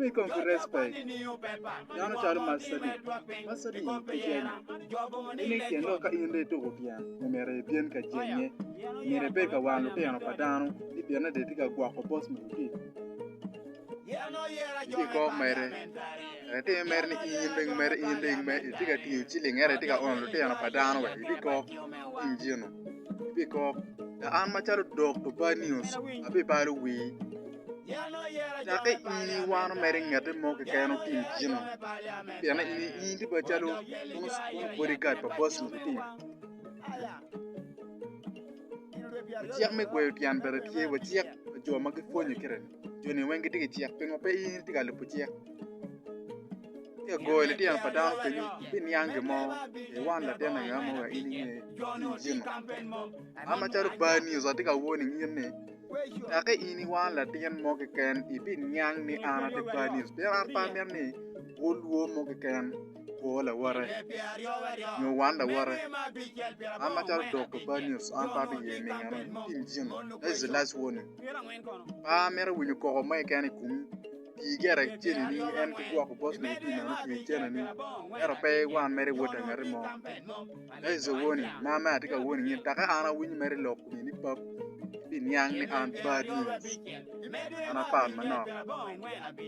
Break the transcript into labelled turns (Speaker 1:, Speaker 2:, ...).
Speaker 1: Ibed kong ki respek. Dano calo Masadi. Masadi kicel. Ini tyen lok ka in rii tuko tyen, omere ibyen ka jenge. Omere ibed ka wang lutino pa dano. Ni byen ade ti ka gwoko bos mo ki. Ti kok mere. Kare ti mere ni in ring mere, in ring mere. Iti ka tiyo ciling ere ti ka ono lutino pa dano we. Ibi kok. Injino. Ibi kok. An macalo dok to bad news. Abi balo wii. Cakke in iwano mere i ngete mo keken otim gino, pien in tye calo bodiguard pa boss-ni kudong. Cik me gweyo tyen bene tye wa, cik pa jo ma gipwonye kit-ti, jo-ni weng gitye ki cik, pingo pe in itye ka lubo cik? Ka goyo litino pa dano kenyu biniang gin mo, iwan latin ango ma wek in inge tim gino. An macalo bar news atye ka warning in ni. Kakke in i wang latin mo keken ibiniang ni an ati Panis, pien an pe amito ni wulwo mo keken kwo lawote, nyo wan lawote. An macalo dok pa Panis, an pe abiye ningane i tim cen, that's the last warning. Pe amito winyo koko mo keken i komi, ti gire cenini en ki gwoko bosni ki pi meno, ti cenini, ento pe iwan mere iwot angati mo. Yecu owo ni, Maa mere atye ka wo nining? Dok ka an awinyo mere i lok kome ni Pap, ibiniang ni an Badi, an apat manok.